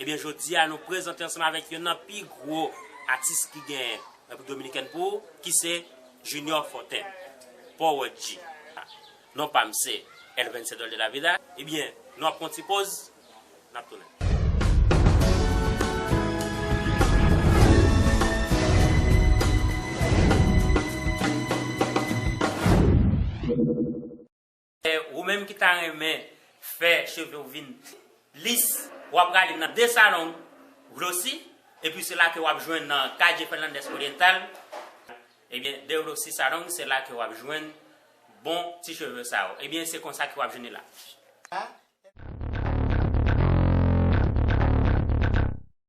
Ebyen jodi a nou prezante ansanm avèk yonn nan pi gwo atis ki genyen Repiblik Dominikèn pou ki se Junior Fontaine, Powèt-G. Non pa m se El Vencedor de la Vida. Ebyen nou ap pran yon ti poz, n ap tounen. Ou menm ki ta renmen fè cheve w vin lis, w ap prale nan de salon Glossy, epi se la ke w ap jwenn nan Calle Fernandez Oriental, ebyen de Glossy Salon se la ke w ap jwenn bon ti cheve sa yo. Ebyen se konsa ke w ap jwenn li la.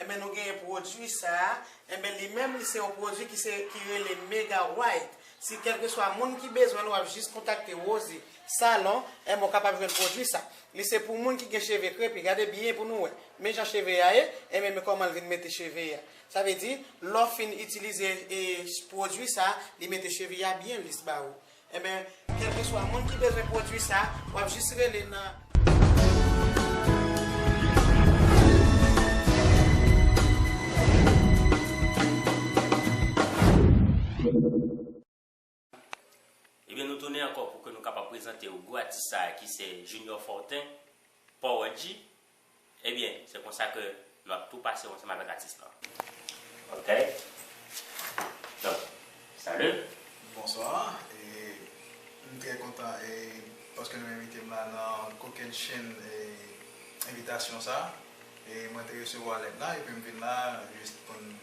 Enben nou genyen pwodui sa a, enben li menm li se yon pwodui ki se ki rele Mega White. Si kèlkeswa moun ki bezwen l wap jis kontakte Rosy salon, enben w kapab jwenn pwodui sa. Li se pou moun ki gen cheve krepi, gade byen pou nou wè. Men jan cheve a ye, enben men kòman l vin mete cheve a. Sa vle di lè w fin itilize pwodui sa, li mete cheve a byen lis ba ou. Enben, kèlkeswa moun ki bezwen pwodui sa, wap jis rele nan. Ebyen nou tounen ankò pou ke nou kapab prezante ou gwo atis sa ki se Junior Fortin, Power-G, Ebyen se konsa ke nou ap tou pase ou ansanm avèk atis lan. Ok donk salut. Bonswa e m trè kontan e paske nou envite m la nan kokenn chenn e envitasyon sa e mwen te resevwa lèt la epi m vin la jis pou n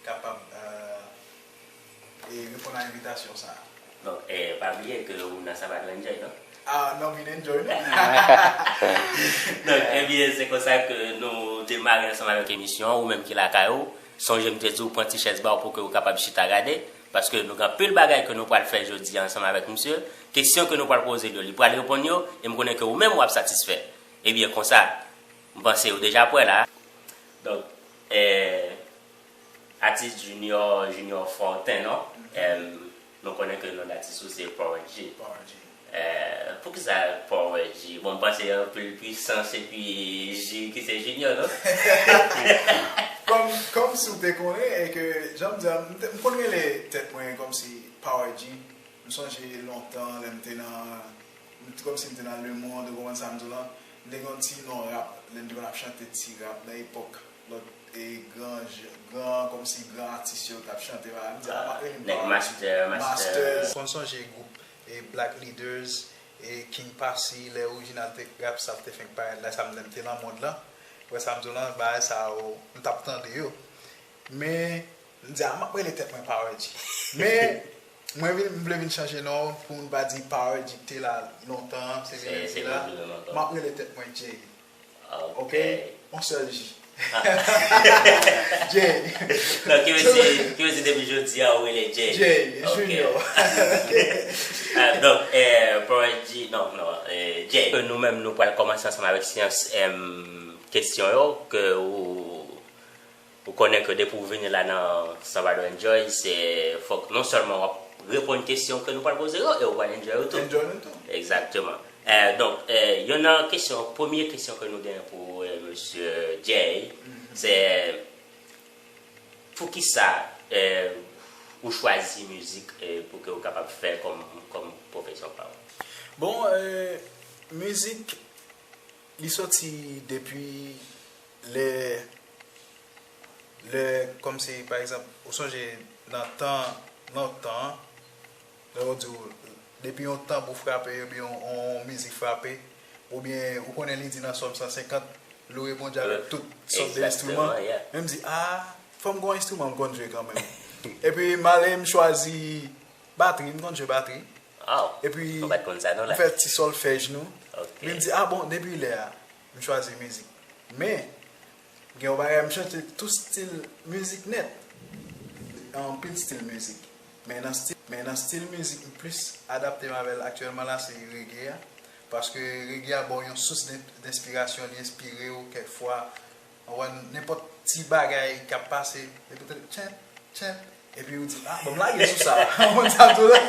kapab reponn a envitasyon sa a. Donk, pa bliye ke ou nan Sabbat ou enjoy non? Ah non vin enjoy non. Donk, ebyen se konsa ke nou demare ansanm avèk emisyon an, ou menm ki lakay ou, sonje m te di ou pran ti chèz ba ou pou ke ou kapab chita gade, paske nou gen anpil bagay ke nou pral fè jodi a ansanm avèk misye, kesyon ke nou pral poze l yo li pral reponn yo, e m konnen ke ou menm w ap satisfè. Ebyen konsa, m panse ou deja prè la. Donk, Eh atis junior junior fò ten non eh nou konnen ke non datis ou se powerG eh poukisa powerG bon m panse anpil pwisans epi J ki se junior non. Kòm kòm si w te konnen e ke jan m di a m te konn rele tèt mwen kòm si powerG m sonje lontan lè m te nan Mwen t konn sim te nan le monde ou konprann sam diw lan, m te gen yon ti non rap lèm te konn ap chante ti rap nan epòk lòt e gran gran kòmsi gran atis yo tap chante bagay m di a map rele nèg master master. Konn sonje gwoup e black leaders e king passy lè original te rap sa te fenk parèt la sam lèm te nan monde lan ou wè sam diw lan bagay sa yo m tap tande yo men M di a, map rele tèt mwen Power G. Men, mwen vin, m vle vin chanje non pou moun pa di Power G te la lontan an, se vin lè li te la. Map rele tèt mwen Jay. Ok? On sèl J. Jay. Non, ki vle di, ki vle di depi jodi a ou rele Jay. Jay, Junior. Donk, Power G, non, non, Jay. Nou menm nou pral kòmanse ansanm avèk syans kesyon yo ke ou. Pou konnen ke depi ou vini la nan Salvador Enjoy se fok non selman wap reponn kesyon ke nou pral poze yo e ou pral enjoy yo tou. Enjoy nou tou. Exactement. Donk yonn nan kesyon, premye kesyon ke nou genyen pou Mesye Jay se poukisa ou chwazi mizik pou ke ou kapab fè kom pwofesyon pa ou? Bon, mizik li soti depi Lè, lè, kòm si pa egzanp, ou sonje nan tan lontan an, lè yo di w, depi yon tanbou frape oubyen yon mizik frape, oubyen ou konnen li di nan Sòm 150, Loure Bondye avèk tout sòt de enstriman, men m di, aa, fò m gen yon enstriman m konn jwe kanmenm. Epi m ale m chwazi batri, m konn jwe batri. Epi m fè ti sòlfèj nou. Men m di, a bon, depi lè a? m chwazi mizik men gen yon bagay m chante tout stil mizik nèt nan anpil stil mizik men nan stil mizik m plis adapte m avèl aktyèlman la se rege a paske rege a baw yon sous denspirasyon li enspire w kèk fwa Ou wè nenpòt ti bagay k ap pase, epi w tande tchèp, tchèp, epi ou di, a, ban m lage sou sa. Ou konn sa tou la?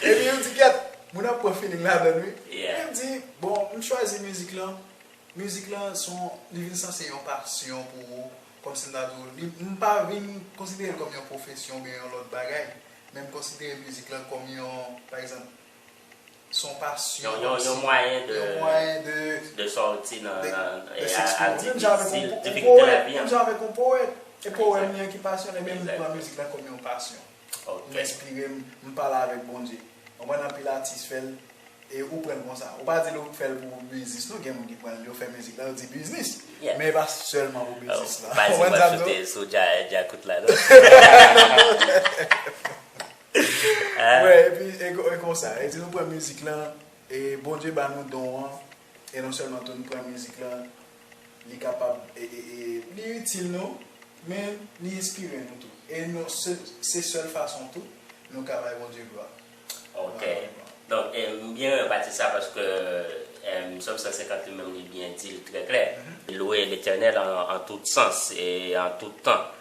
Epi ou di, gad, moun ap pran filing ladan l wi. Epi m di, bon, m chwazi mizik lan, mizik lan s on, li vin sanse yon pasyon pou ou, kòmsi m ta di w, li, m pa vin konsidere l kòm yon pwofesyon oubyen yon lòt bagay, men m konsidere mizik lan kòm yon, pa egzanp. Son pasyon. Yon mwayen de. Yon mwayen de. De sòti nan. De s'exprimer. Menm jan avèk yon poète. Difikilte lavi an. Menm jan avèk yon poète. E powèm li an ki pasyone men li pran mizik la kòm yon pasyon. Ok. M enspire m, m pale avèk Bondye. Konprann anpil atis fè l e ou pran l konsa. Ou pa di l ou fè l pou biznis non gen moun ki pran l yo fè mizik la yo di biznis. Yeah. Men e pa sèlman pou biznis la. Ou pa di w ap choute sou djakout la non. Wè epi e konsa e di nou pran mizik lan e Bondye ba nou don an e non sèlman tou nou pran mizik lan li kapab e li itil nou men li enspire nou tou e nou se sèl fason tou nou ka bay Bondye glwa. Ok donk m byen renmen pati sa paske Sòm 150 li menm li byen di l trè klè. Louwe Letènèl an tout sans e an tout tan.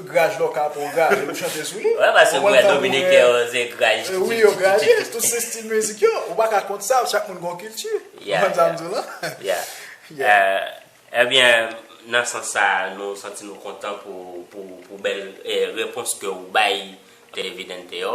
Graj lò ka pran graj e ou chante sou li. Wè paske mwen wè dominiken yo se graj kikikiki. Wi yo graj yes tout se stil mizik yo. Ou pa ka kont sa chak moun gen yon kilti. Ou konprann sa m di w lan? Yeah. Ebyen nan sans sa nou santi nou kontan pou bèl repons ke ou bay Televidente yo.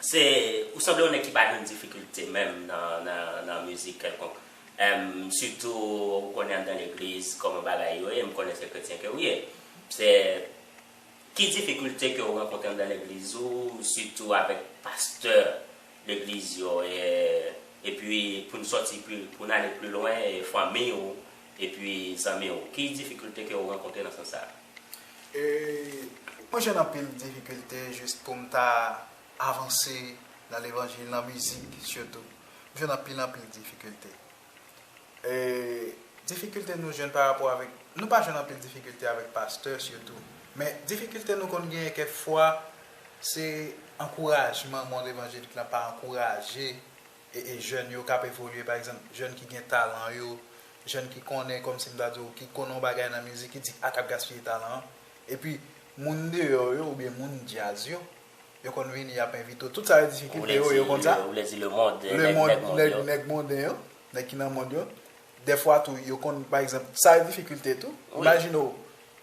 Se ou sanble yon nèg ki pa jwenn difikilte menm nan mizik kèlkonk. Sitou ou konnen anndan legliz kòman bagay yo ye, m konnen se kretyen ke ou ye. Se ki difikilte ke ou rankontre anndan legliz ou, sitou avèk pastè legliz yo e epi pou n sòti pi, pou n ale pi lwen, fanmi ou epi zanmi ou. Ki difikilte ke ou rankontre nan sans sa a? Mwen jwenn anpil difikilte jis pou m ta avanse nan levanjil, nan mizik sitou. M jwenn anpil anpil difikilte. Difikilte nou jwenn parapò avèk, nou pa jwenn anpil difikilte avèk pastè sitou. Men difikilte nou konn genyen kèk fwa se ankourajman mond evanjelik lan pa ankouraje. e jèn yo kap evolye pa egzanp jèn ki gen talan yo jèn ki konnen kòm si m ta di w ki konnen yon bagay nan mizik ki di ak ap gaspiye talan an epi moun deyò yo oubyen moun djaz yo yo konn vini yap envite w tout sa yo di ki koupe yo yo konn sa ou vle di lemond nèg monden yo nèg ki nan mond yo dèfwa tou yo konn pa egzanp sa yo difikilte tou imajine w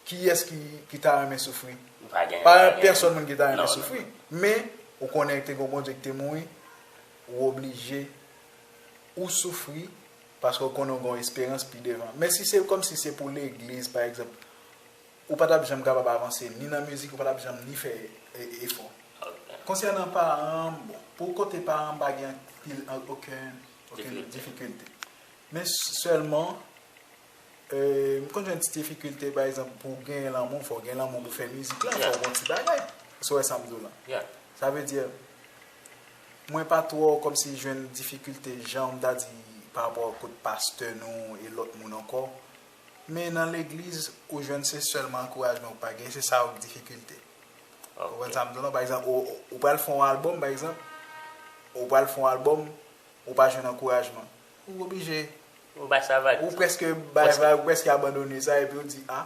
kiyès ki ta renmen soufri pa gen pèsòn moun ki ta renmen soufri men ou konnen te gen yon Bondye ki te mouri Ou oblije Ou soufri paske ou konnen ou gen yon esperans pi devan men si se kòmsi se pou legliz pa egzanp ou pa tap janm kapab avanse ni nan mizik ou pa tap janm ni fè efò konsènan paran bon pou kote paran m pa gen anpil oken difikilte men sèlman M konn jwenn ti difikilte pa egzanp pou gen lanmou fòw gen lanmou pou fè mizik lan fòw gon ti bagay sou wè sam diw lan sa vle di mwen pa twò kòmsi jwenn difikilte janm ta di pa rapò ak kot pastè nou e lòt moun ankò men nan legliz ou jwenn se sèlman ankourajman ou pa gen se sa ok difikilte ou konprann sam diw lan pa egzanp ou pral fè yon albòm pa egzanp ou pral fè yon albòm ou pa jwenn ankourajman. Ou oblije. Ou bay sa vag. Ou preske bay vag, ou preske abandone sa epi ou di a,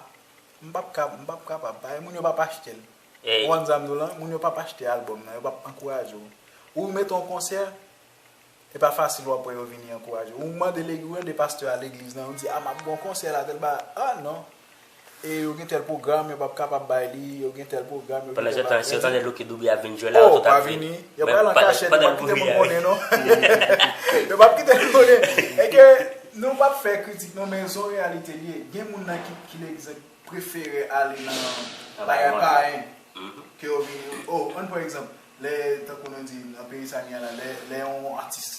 m pap ka, m pap kapab. Paske moun yo pap achte l. Ou konprann sa m di w lan? Moun yo pap achte albòm nan, yo pap ankouraje w. Ou mete yon konsè, e pa fasil w ap wè yo vini ankouraje w. Ou mande legi, ou mande pastè a legliz nan, ou di a m ap gen yon konsè la tèl bagay, a non. E yo gen tèl pwogram, yo pap kapab bay li, yo gen tèl pwogram, yo gen tèl bagay. Pandan se tan, si yo tande Lucky Dube ap vin jwe la, yo tout ap vini. Oh, pa vini. Yo pral an kachèt, yo pap kite moun konnen non. Yo pap kite moun konnen. E ke nou pap fè kritik non, men son reyalite li ye. Gen moun nan ki legzanp prefere ale nan bagay payen ke yo vini. Oh, ann pran egzanp, lè tankou nou di nan peyi sa nou ye la, lè yon atis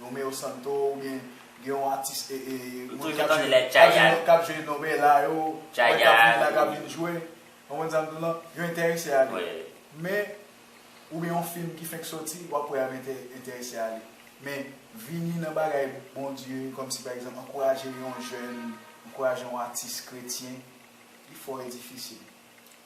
Romeo Santo ou byen gen yon atis e e Ou toujou tande lè Tchayad. Kap jwe Nobela yo, Tchayad, kap vin la kap vin jwe, konprann sa m di w lan, yo enterese a li. Men ou byen yon fim ki fenk soti wap wè yap enterese a li. Men vini nan bagay Bondye kòm si pa egzanp ankouraje yon jèn, ankouraje yon atis kretyen li fò e difisil.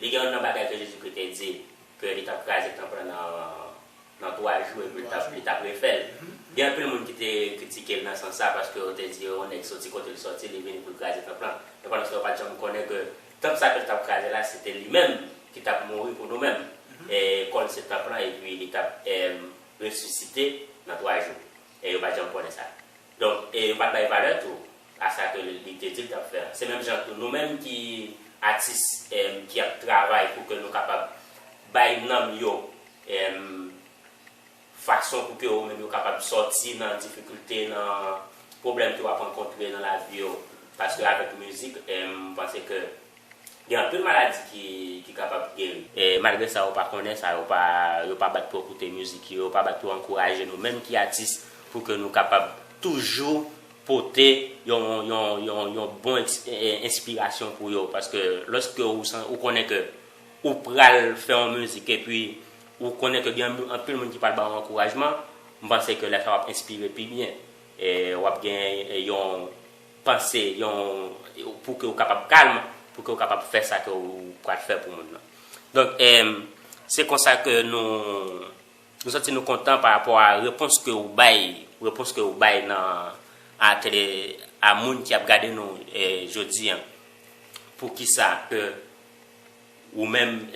Li gen youn nan bagay ke Jezikri te di, ke li t ap kraze tanp lan nan twa jou epi li t ap refè l. Gen anpil moun ki te kritike l nan sans sa, paske yo te di, yon nèg soti kote l soti, li vini pou l kraze tanp lan. Men pandanstan yo pa t janm konnen ke tanp sa ke l t ap kraze la, se te li menm ki t ap mouri pou nou menm, kò l se tanp lan epi li t ap resisite nan twa jou. E yo pa t janm konnen sa. Donk, e yo pa t bay valè tou a sa ke li te di l t ap fè an. Se menm jan tou, nou menm ki atis e ki ap travay pou ke nou kapab bay nanm yo e fason pou ke yo menm yo kapab sòti nan difikilte, nan pwoblèm ke yo ap rankontre nan lavi yo. Paske avèk mizik e m panse ke Gen anpil maladi ki kapab geri. Malgre sa yo pa konnen sa, yo pa yo pa bat pou koute mizik yo, yo pa bat pou ankouraje nou menm ki atis pou ke nou kapab toujou pote yon yon yon yon bon enspirasyon pou yo paske lòske ou konnen ke ou pral fè yon mizik epi ou konnen ke gen anpil moun ki pral ba ou ankourajman, m panse ke lè sa w ap enspire pi byen e w ap gen yon. Panse yon pou ke ou kapab kalm, pou ke ou kapab fè sa ke ou pral fè pou moun nan. Donk, se konsa ke nou, nou santi nou kontan pa rapò a repons ke ou bay, repons ke ou bay nan atele a moun ki ap gade nou jodi an. Pou ki sa ke ou menm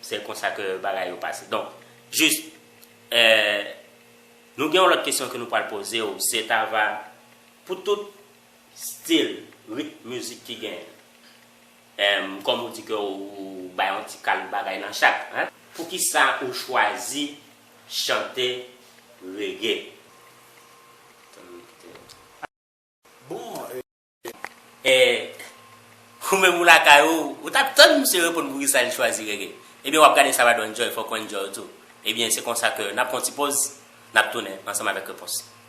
se konsa ke bagay yo pase. Donk, jis, nou gen yon lòt kesyon ke nou pral poze ou, se ta va. Pou tout stil, rit mizik ki genyen. Ehm kòm ou di ke ou bay yon ti kal bagay nan chak hein. Poukisa ou chwazi chante reggae? Tann nou kite. Bon e. Eh ou menm ou lakay ou, ou tap tann misye reponn poukisa li chwazi reggae. Ebyen wap gade Savador Enjoy fòk ou enjoy tou. Ebyen se konsa ke nap pran yon ti poz, nap tounen ansanm avèk repons.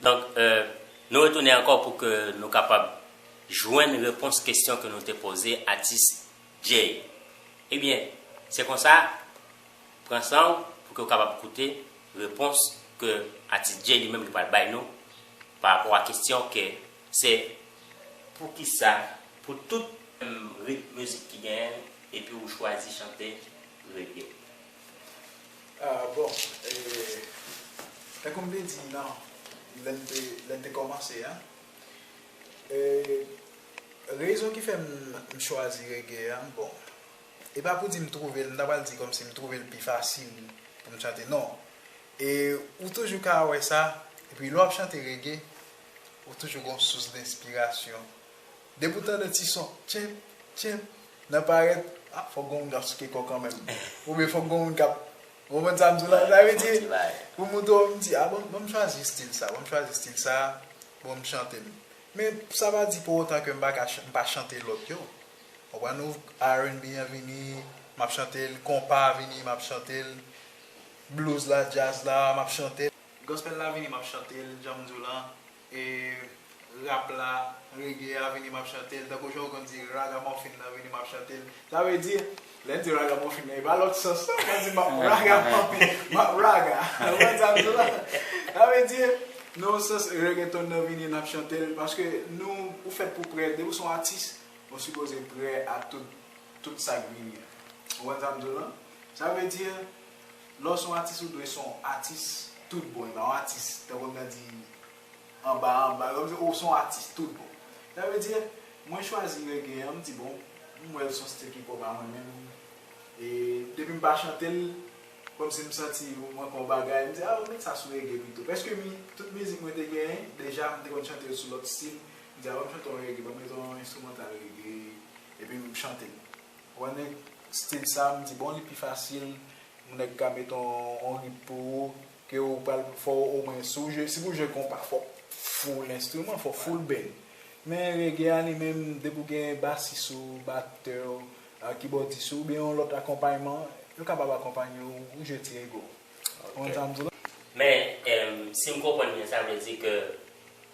Donk, nou retounen ankò pou ke nou kapab jwenn repons kesyon ke nou te poze atis Jay. Ebyen, se konsa, pran san w pou ke w kapab koute repons ke atis Jay li menm li pral bay nou pa rapò a kesyon ke se, Poukisa pou tout ritm mizik ki genyen epi ou chwazi chante reggae? Bon, tankou m te di nan, lè m te, lè n te kòmanse an, rezon ki fè m chwazi rege a, bon, e pa pou di m twouve l, m ta pral di kòmsi m twouve l pi fasil pou m chante, non. E ou toujou ka wè sa, epi lè w ap chante rege, ou toujou gen yon sous denspirasyon Depi ou tande ti son tchenp tchenp nan parèt ah fòk gon moun kap souke kò kanmenm oubyen fòk gon moun kap ou konprann sam di la sa vle di pou moun twò m di ah bon banm chwazi stil sa banm chwazi stil sa pou m chante m men sa pa di pou otan ke m paka m pa chante lòt yo ou konprann ou RNB an vini map chante l konpa a vini map chante l blues la djaz la map chante l gospel la vini map chante l janm di w lan E rap la, reggae a vini map chantel tankou jan ou konn di ragamòfin nan vini map chantel. Sa vle di, lè n di ragamòfin nan e pa lòt sans non, mwen di map ragamòfin, map raga. Ou konn sa m di la? Sa vle di, nan yon sans reggaeton nan vini nap chantel paske nou ou fèt pou prè, depi w son atis, ou sipoze prè a tout tout sak vini an. Ou konn sa m di w lan? Sa vle di Lè w son atis ou dwe son atis tout bon e pa yon atis tankou m ta di anba anba lè w di ou son atis tout bon sa vle di mwen chwazi reggae an m di bon m wè l son stil ki pwòp a mwen menm e depi m pa chante l kòmsi m santi mwen fè yon bagay m di a met sa sou reggae pito prèske mi tout mizik mwen te genyen deja m te konn chante l sou lòt stil m di a banm chante yon reggae banm met yon enstrimantal reggae epi m chante l. Wan neg stil sa m di bon li pi fasil yon neg ka met yon rit pou ou ke ou pral fò ou omwen si ou jwe si pou jwe konpa fò ou full enstriman fò ou full band men reggae a li menm depi ou gen basis ou baktè ou kibòdis ou oubyen yon lòt akonpayman yo kapab akonpanye ou ou jwe ti reggae w konprann sa m di w la. Men si m konprann byen sa vle di ke.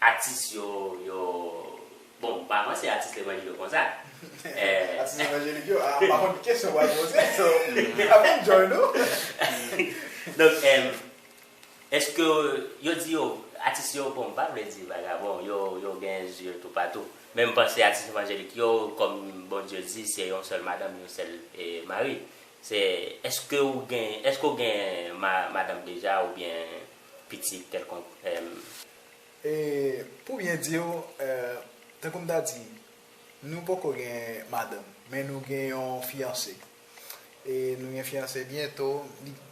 Atis yo yo Bon m pa panse atis levanjil yo konsa Atis levanjelik yo a m pa konn ki kesyon w ap poze so m pa konn join ou Donk Eske yo di yo Atis yo bon m pa vle di vagabon yo yo gen zye toupatou men m panse atis levanjelik yo kòm Bondye di se yon sèl madanm yon sèl mari se Eske ou gen Eske ou gen madanm deja oubyen pitit kèlkonk m. E pou byen di w, tankou m ta di, nou poko gen madanm, men nou gen yon fiyanse. E nou gen fiyanse byento,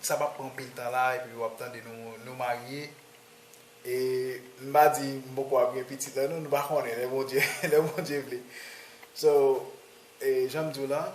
sa p ap pran anpil tan la epi w ap tande nou marye. E m pa di m poko ap gen pitit la non, nou pa konnen, lè Bondye vle. So, jan m di w lan.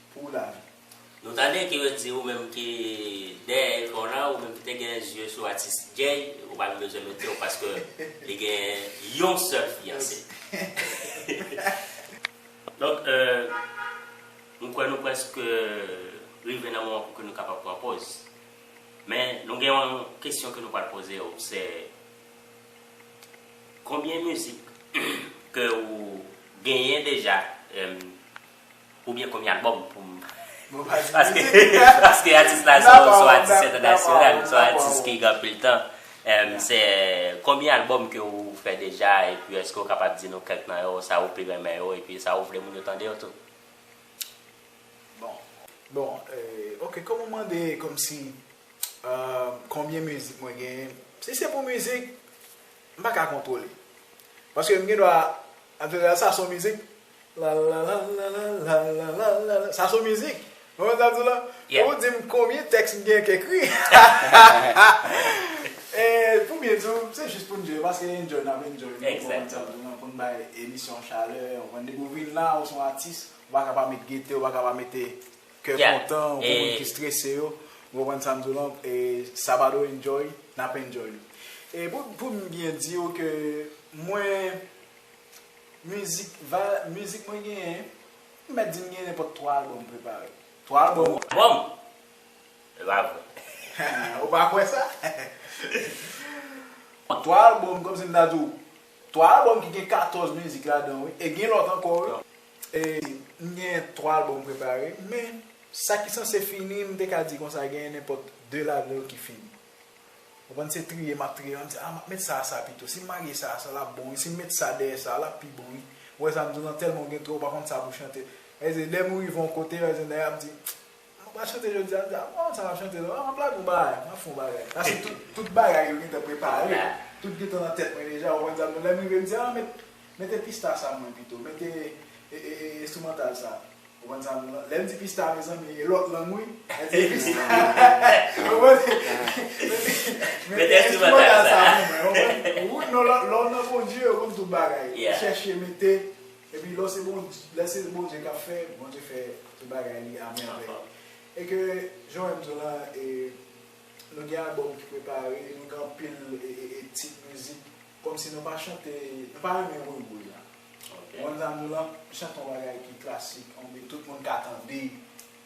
pou lavi. Nou ta de ki ret di ou menm ki dèyè ekran w la ou menm ki te gen zye sou atis Jay ou pa gen bezwen mete w paske li gen yon sèl fiyanse. Donk m kwè nou preske rive nan moman pou ke nou kapab pran poz. Men nou gen yon kesyon ke nou pral poze w se konbyen mizik ke ou genyen deja Ou byen konbyen album poum paske atis la son atis entènasyonal son atis ki gen anpil tan se konbyen album ke ou fè deja epi eske ou kapab di nou kèk nan yo sa ou pi renmen yo epi sa ou vle moun yo tande yo tou Bon ok kòm ou mande kòmsi konbyen mizik mwen genyen si se pou mizik m pa ka kontwole paske m gen dwa an jeneral sa son mizik Lalalalalalalala Sa son mizik Ou konn sa m di w la Fò ou di m konbyen tèks m gen k ekri E pou m byen di w se jis pou n enjoy paske enjoy n ap enjoy nou konprann sa m di w la pou n bay emisyon an chalè ou konprann depi w vin la ou s on atis ou pa ka pa met gete ou pa ka pa mete kè kontan pou moun ki strese yo ou konprann sa m di w la e sabado enjoy n ap enjoy e pou m byen di w ke mwen. Mizik va mizik mwen genyen m mèt di m genyen nenpòt 3 albòm prepare. 3 albòm ou. Albòm? Se pa vre. Ou pa kwè sa? 3 albòm kòmsi m ta di w 3 albòm ki gen 14 mizik ladan wi e gen lòt ankò wi. E m genyen 3 albòm prepare men sa ki sanse fini m te ka di konsa genyen nenpòt 2 ladan yo ki fini. Ou konprann se triye map triye an, m di ah map met sa a sa pito, sim marye sa a sa lap bon wi, sim met sa dèyè sa a lap pi bon wi, ou wè sa m di w lan tèlman ou gen twò ou pa konn sa pou chante, e se lèm rive yon kote e se nèg la ap di mwen pa chante jodi a, m di ah m pa konn sa map chante non, map lage yon bagay, map fè yon bagay, pase tout tout bagay yo gentan prepare, tout gentan nan tèt mwen deja, ou konprann sa m di w, lèm rive m di ah met mete pista sa mwen pito, mete e e enstrimantal sa. Ou konn sa m di lan? Lè m di pista mezanmi e lòt lang wi. Mwen di pista ou konprann? Mwen di mwen gen enstrimantal sa pou mwen ou konprann? Wi non lè w nan Bondye ou konn tout bagay. Ou chèche mete epi lè w se Bondye lè se Bondye k ap fè Bondye fè tout bagay li a mèvèy. E ke jan w wè m di w lan e nou gen albòm ki prepare nou gen anpil e e e tit mizik. Komsi nou pa chante, nou pa renmen woy woy la. Wonn zanmi lan chante yon bagay ki klasik, yon bgy tout moun ka tande.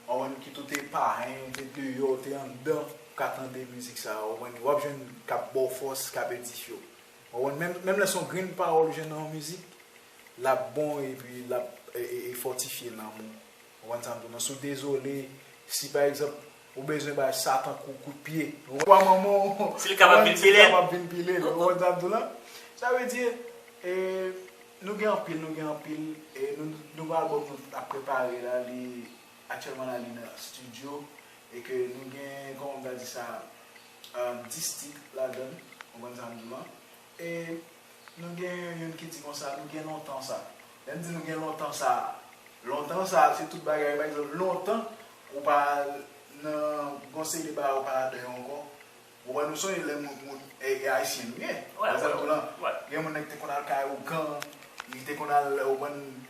Ou konprann kit ou te payen, ou te deyò, ou te anndan, ou ka tande mizik sa a ou konprann. Wap jwenn kap baw fòs, kap edifye w. Ou konprann, menm lè son grenn pawòl ou jwenn nan yon mizik, lap bon epi lap fòtifye nanm ou. Ou konprann sa m di w non? Si w dezole, si pa egzanp, ou bezwen bay Satan kou kout pye, ou konprann? Pwa manman w, si l kapab vin pile l, ou konprann sa m di w la? Sa vle di, nou gen anpil, nou gen anpil, e nouvo albòm nou ap prepare la, li aktyèlman la li nan stidyo, e ke nou gen, kòman m ta di sa, 10 tit ladan l, ou konprann sa m di w lan? E nou gen yon youn ki di konsa, nou gen lontan sa. Lè n di nou gen lontan sa, lontan sa se tout bagay. Pa egzanp, lontan ou pa al nan gon seri de bagay ou pa al ladan yo ankò. Ou konprann? Nou sonje lè moun, moun, e Ayisyen nou ye. Wè, wè, wè, wè. Gen moun nan ki te konn al kay Ougan, li te konn al, ou konprann.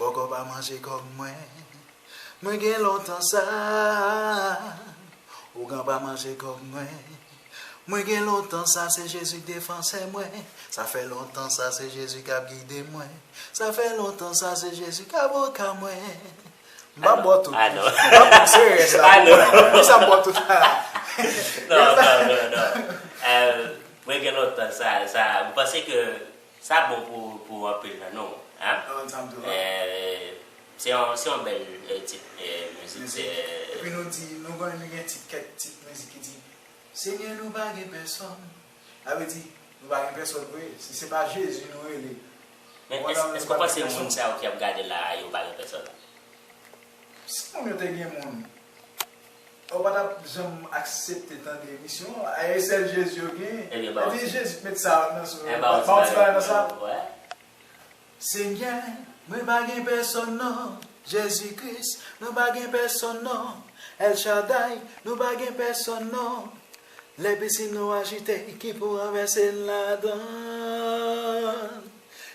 Bòkò pa manje kòb mwen Mwen gen lontan sa Ougan pa manje kòb mwen Mwen gen lontan sa Se Jezi k defansè mwen Sa fè lontan sa Se Jezi k ap gide mwen Sa fè lontan sa Se Jezi k avoka mwen M pa bò tout non M pa bò se rès la pou mwen Pou sa m bò tout la Non non non non Mwen gen lontan sa Sa Ou panse ke Sa bon pou anpil nan nou hein. Se yon bèl tit mizik. Epi nou di nou gen tit kèk tit mizik ki di Senyè nou pa gen pèsòn. Sa vle di nou pa gen pèsòn vre si se pa Jezi nou rele. Men èske w panse moun sa yo ki ap gade la a yo pa gen pèsòn? Si moun yo te gen moun. Ou pa tap janm aksepte tande emisyon an a e sèl jezi yo gen ebyen ba ou ti pale nan sa Senyè mwen pa gen pèsòn non Jezi Kris nou pa gen pèsòn non El Shaddai nou pa gen pèsòn non Lè pisin nou ajite ki pou ranvèse n ladann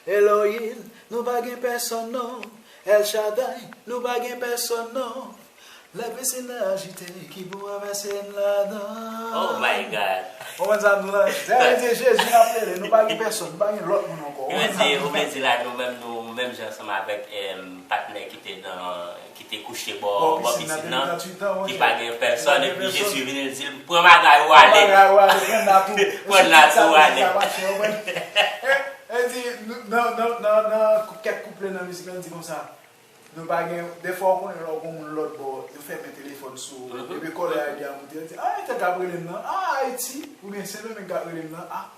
Elohim nou pa gen pèsòn non El Shaddai nou pa gen pèsòn non Lè pisin nan ajite ki pou mwen vèse m ladan. Ou konn sa nou la? Lè nou di Jezi n ap rele, nou pa gen pèsòn, nou pa gen lòt moun ankò. Ou konn sa nou la? Ou vle di la nou menm nou menm jan ansanm avèk patnè ki te nan, ki te kouche bò pisin nan ki pa gen pèsòn epi Jezi vini l di l pran bagay ou ale. Pran bagay ou ale, pran nat ou. Pran nat ou ale. Li di nan kèk kouple nan mizik la li di konsa. Nou pa gen, defwa ou konnen lè w gon moun lòt bò, yo fèmen telefòn sou ou, epi kòlè a rive a moute, yo di, ah entèl kap rele m nan, ah Ayiti, oubyen Sendomeng kap rele m nan, ah,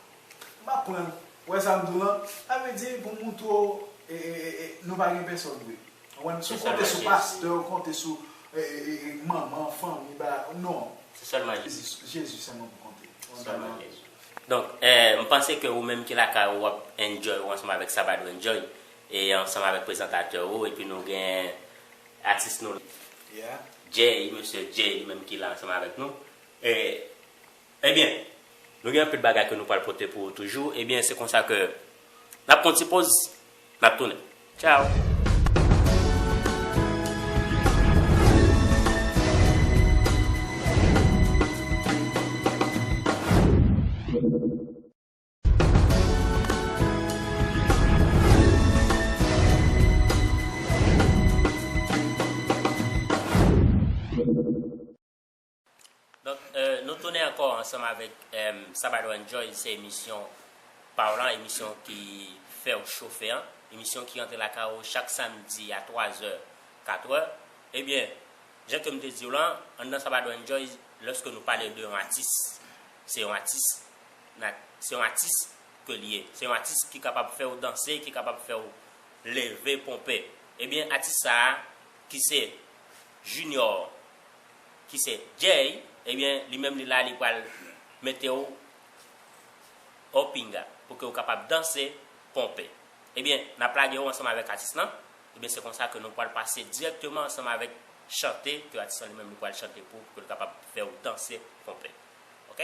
m pa konprann, ou wè sa m di w lan, sa vle di pou m moute w, e, e, e, e, nou pa gen pèsòn vre. Ou konprann, si w konte sou pastè, ou konte sou, e, e, e, e, manman, fanmi, ba, non. Se sèlman Jezi. Jezi sèlman pou konte. Se sèlman Jezi. Donk, eh, m panse ke ou menm ki lakay ou, w ap enjoy ou ansanm avèk Sabado Enjoy. E ansanm avèk prezantatè ou epi nou gen atis nou Jay, mesye Jay li menm ki la ansanm avèk nou. E Ebyen nou gen anpil bagay ke nou pral pote pou ou toujou. Ebyen se konsa ke n ap pran yon ti poz, n ap tounen. Tchaw! Donk nou tounen ankò ansanm avèk Sabado Enjoy se emisyon pa w lan, emisyon ki fè w chofe an, emisyon ki rantre lakay ou chak samdi a 3 zè, 4 è. Ebyen, jan ke m te di w lan, anndan Sabado Enjoy, lòske nou pale de yon atis, se yon atis. Nat se yon atis ke li ye. Se yon atis ki kapab fè ou danse, ki kapab fè ou leve, ponpe. Ebyen atis sa a ki se Junior, ki se Jay, ebyen li menm li la li pral mete ou o pinga pou ke ou kapab danse, ponpe. Ebyen n ap lage ou ansanm avèk atis lan, ebyen se konsa ke nou pral pase dirèkteman ansanm avèk chante ke atis lan li menm li pral chante pou ou pou ke l kapab fè ou danse, ponpe. Ok.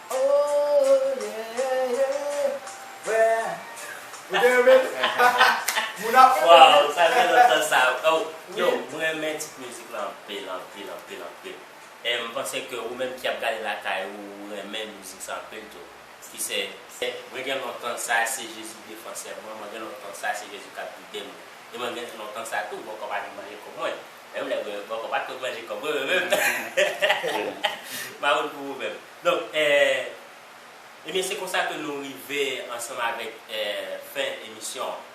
Ooh yeah yeah Ou te renmen li? Moun ap renmen li. Waww sa fè lontan sa oh yo m renmen tit mizik lan anpil anpil anpil anpil e m panse ke ou menm ki ap gade lakay ou ou renmen mizik sa anpil tou ki se. Mwen gen lontan sa se Jezi defansè mwen mwen gen lontan sa se Jezi kap gidem e mwen gen lontan sa tou bòkò pa vin manje kòb mwen Menm lè mwen bòkò pat konn manje kòb mwen menm ma wout pou ou menm. Donk ebyen se konsa ke nou rive ansanm avèk fen emisyon an.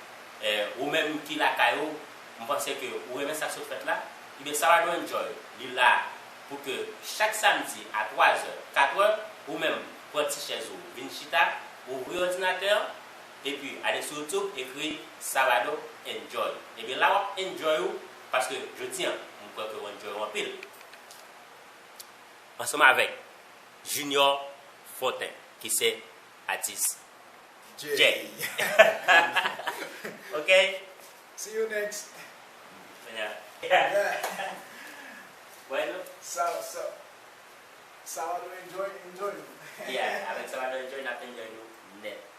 Ou menm ki lakay ou m panse ke ou renmen sak sot fèt la ebyen Saradou Enjoy li la pou ke chak samdi a 3 zè, 4 è ou menm pran ti chèz ou vin chita, ouvri òdinatè an. Epi ale sou youtube ekri Salado enjoy ebyen la wap enjoy ou paske jodi an m kwè ke w enjoy ou anpil ansanm avèk Junior Fortin ki se atis Jay ok see you next Salado enjoy enjoy nou yeah avèk Salado enjoy nap enjoy nou nèt.